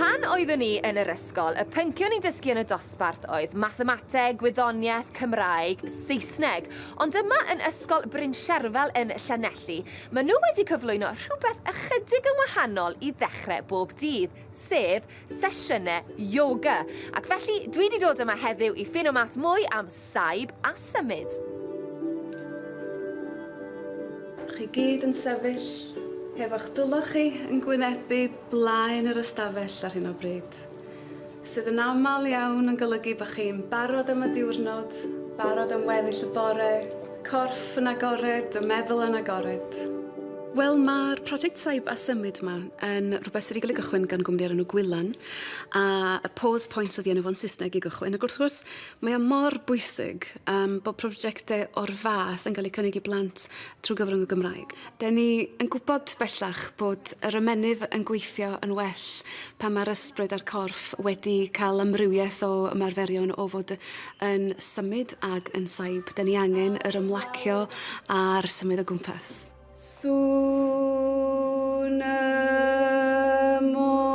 Pan oeddwn i yn yr ysgol, y pyncion ni'n dysgu yn y dosbarth oedd mathemateg, gwyddoniaeth, Cymraeg, Saesneg. Ond yma yn Ysgol Bryn Sherfel yn Llanelli, maen nhw wedi cyflwyno rhywbeth ychydig yn wahanol i ddechrau bob dydd, sef sesiynau ioga, ac felly dwi wedi dod yma heddiw i ffino mas mwy am saib a symud. Chi gyd yn sefyll hefo'ch dwylo chi yn gwynebu blaen yr ystafell ar hyn o bryd, sydd yn aml iawn yn golygu bod chi'n barod am y diwrnod, barod am weddill y bore, Corff yn agored, y meddwl yn agored. Wel, mae'r project Saib a Symud yma yn rhywbeth sydd wedi cael ei gychwyn gan gwmni o'r enw Gwylan, a y Pause Point oedd i enw fo'n Saesneg i gychwyn. Ac wrth gwrs, mae o mor bwysig um, bod prosiectau o'r fath yn cael eu cynnig i blant trwy gyfrwng y Gymraeg. 'Da ni yn gwybod bellach bod yr ymennydd yn gweithio yn well pan mae'r ysbryd a'r corff wedi cael amrywiaeth o ymarferion o fod yn symud ag yn saib. 'Da ni angen yr ymlacio a'r symud o gwmpas. Sŵn y môr.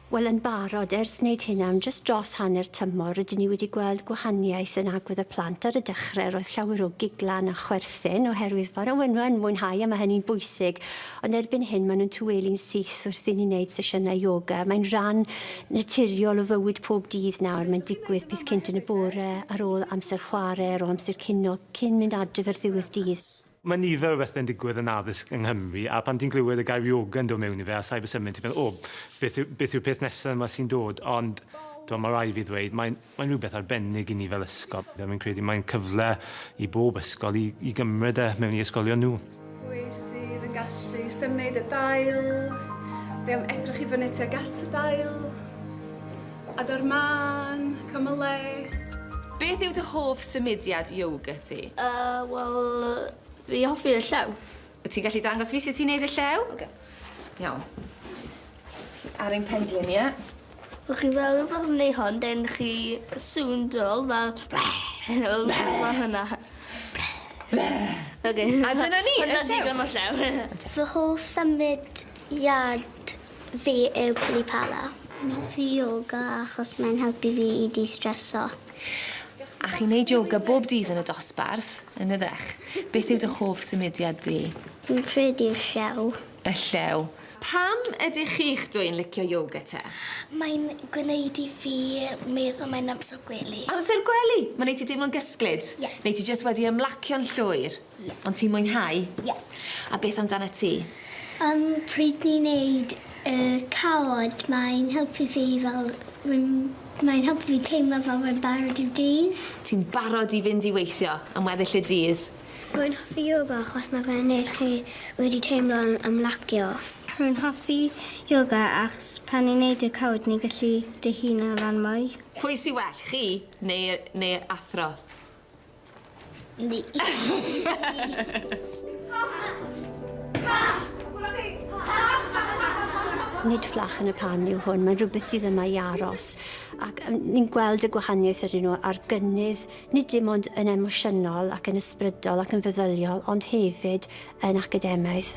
Wel, yn barod, ers wneud hyn am jyst dros hanner tymor, rydyn ni wedi gweld gwahaniaeth yn agwedd y plant. Ar y dechrau, roedd llawer o giglan a chwerthin oherwydd bod y wenwau yn mwynhau a mae hynny'n bwysig, ond erbyn hyn maen nhw'n tawelu'n syth wrth i ni wneud sesiynau ioga. Mae'n rhan naturiol o fywyd pob dydd nawr, mae'n digwydd peth cynt yn y bore, ar ôl amser chwarae, ar ôl amser cinio, cyn mynd adref ar ddiwedd dydd. Mae nifer o bethau'n digwydd yn addysg yng Nghymru a pan ti'n clywed y gair yoga yn dod mewn i fe a cyber symud ti'n meddwl o beth yw, beth yw'r peth nesaf yma sy'n dod ond dwi'n mae rai fi ddweud mae'n, mae'n rhywbeth arbennig i ni fel ysgol. Dwi'n credu mae'n cyfle i bob ysgol i, i gymryd e mewn i ysgolion nhw. Pwy sydd yn gallu symud y dail? Fe am edrych i fyny tuag at y dail. Adar mân, cymylau. Beth yw dy hoff symudiad yoga ti? Yy, wel, fi hoffi y llew. Wyt ti'n gallu dangos fi sut ti'n neud y llew? Oce. Iawn. Ti ar ein pendlun ni, ie? Fel chi fel rhywbeth yn neu hwn, then chi sŵn dol fel... fel hwnna. Oce. A dyna ni, y llew. Hwnna digon o llew. Fy hoff symud iad Fi yw Pili Pala. Neith fi yoga achos mae'n helpu fi i distreso. A chi'n neud yoga bob dydd yn y dosbarth, yn dydych? Beth yw dy hoff symudiad di? Fi'n credu y llew. Y llew. Pam ydych chi'ch dwy'n licio yoga te? Mae'n gwneud i fi meddwl mae'n amser gwely. Amser gwely! Mae'n neud ti deimlo'n gysglyd? Ie. Neu ti jyst wedi ymlacio'n llwyr? Ie. Ond ti'n mwynhau? Ie. A beth amdanat ti? Yym pryd ni'n neud y cawod mae'n helpu fi fel rwy'n mae'n helpu fi teimlo fel rwy'n barod i'r dydd. Ti'n barod i fynd i weithio am weddill y dydd? Rwy'n hoffi ioga achos mae fe'n neud chi wedi teimlo'n ymlacio. Rwy'n hoffi ioga achos pan ni'n neud y cawod ni'n gallu dihuno lan mwy. Pwy sy well, chi neu neu athro? Ni. Nid fflach yn y pan yw hwn, mae'n rhywbeth sydd yma i aros. Ac ni'n gweld y gwahaniaeth yr un ar gynnydd, nid dim ond yn emosiynol ac yn ysbrydol ac yn feddyliol, ond hefyd yn academaidd.